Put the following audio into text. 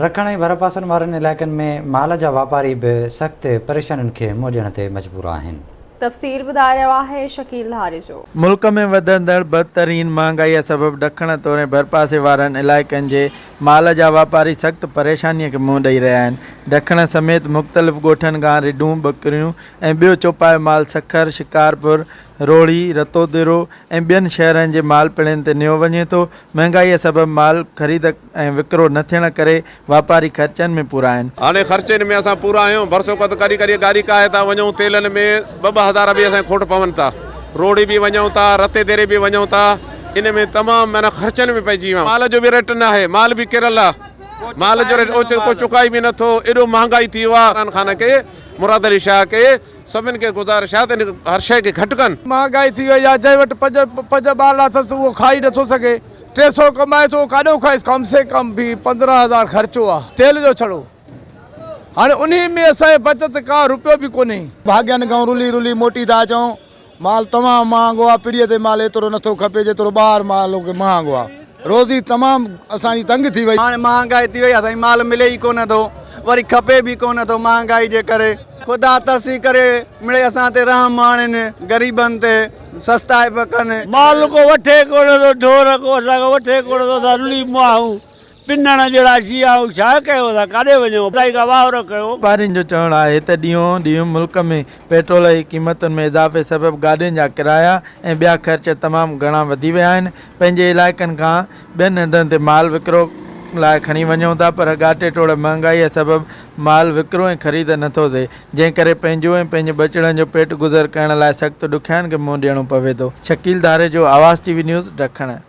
رکڻ ۽ ڀرپاسن وارن علائقن ۾ مال جا واپاري به سخت پريشانين کي منهن ڏيڻ تي مجبور آهن. تفصيل ٻڌائي رهيو آهي شڪيل ڌاريجو. ملڪ ۾ وڌندڙ بدترين مهانگائيء سبب ڏکڻ توڙي ڀرپاسي وارن علائقن جي مال جا واپاري سخت پريشانيء کي منهن ڏئي رهيا آهن. ڏکڻ سميت مختلف ڳوٺن کان رڍون، ٻڪريون ۽ ٻيو چوپايو مال سکر، شڪارپور، روهڙي، رتوديرو ۽ ٻين شهرن جي مالپڙين تي نيو وڃي ٿو. مهانگائيء سبب مال خريد. ۽ وڪرو نه ٿيڻ ڪري واپاري خرچن ۾ پورا آهن. هاڻي خرچين ۾ اسان پورا آهيون، ڀرسوڪت ڪري ڪري گاڏي ڪاهي ٿا وڃون، تيلن ۾ ٻه ٻه هزار به اسان کي کوٽ پون ٿا، روڙي به وڃون ٿا، رتي ديري به وڃون ٿا، ان ۾ تمام معنيٰ خرچن ۾ پئجي ويا آهيون، مال جو به ريٽ نه آهي، مال به ڪريل آهي، مال جو ريٽ اوچتو ڪو چڪائي به نه ٿو، ايڏو مهانگائي ٿي ويو آهي، عمران خان کي، مراد علي شاهه کي، سڀن کي گذارش آهي ته هن هر شيء کي گهٽ ڪن. مهانگائي ٿي وئي آهي، جنهن وٽ پنج پنج ٻارڙا اٿس اهو کائي نه ٿو سگهي. ٽي سئو ڪمائي ٿو ڪاڏو کائيس ڪم سي ڪم به پندرهن هزار خرچو آ تيل جو ڇڙو هاڻي انهي ۾ اسان جي بچت ڪا روپيو به ڪونهي. ڀاڳين کان رلي رلي موٽي ٿا اچون مال تمام مهانگو آ پڙي تي مال ايترو نٿو کپي جيترو ٻاهر مال مهانگو آ روزي تمام اسان جي تنگ ٿي وئي. هاڻي مهانگائي ٿي وئي آ سائين مال ملي ئي ڪونه ٿو وري کپي به ڪونه ٿو مهانگائي جي ڪري خدا ترسي ڪري مڙئي اسان تي رحم آڻين غريبن تي. سستا به ڪن. مال ڪو وٺي ڪونه ٿو ڍور ڪو اسان کان وٺي ڪونه ٿو اسان رلي مئاهون پنڻ جهڙا شيئاهون ڇا ڪيون اسان ڪاڏي وڃون خدائي کان واهرو ڪيو. واپارين جو چوڻ آهي ته ڏينهون ڏينهن ملڪ ۾ پيٽرول جي قيمتن ۾ اضافي سبب گاڏين جا ڪرايا ۽ ٻيا خرچ تمام گهڻا وڌي ويا آهن پنهنجي علائقن کان ٻين هنڌن تي مال وڪرو لاء کڻي وڃون ٿا پر ڳاٽي ٽوڙ مهانگائي سبب مال وڪرو ۽ خريد نٿو ٿئي جنهن ڪري پنهنجو ۽ پنهنجي ٻچڙن جو پيٽ گذر ڪرڻ لاء سخت ڏکيائين کي منهن ڏيڻو پوي ٿو شڪيل ڌاريجو آواز ٽي وي نيوز ڊکڻ.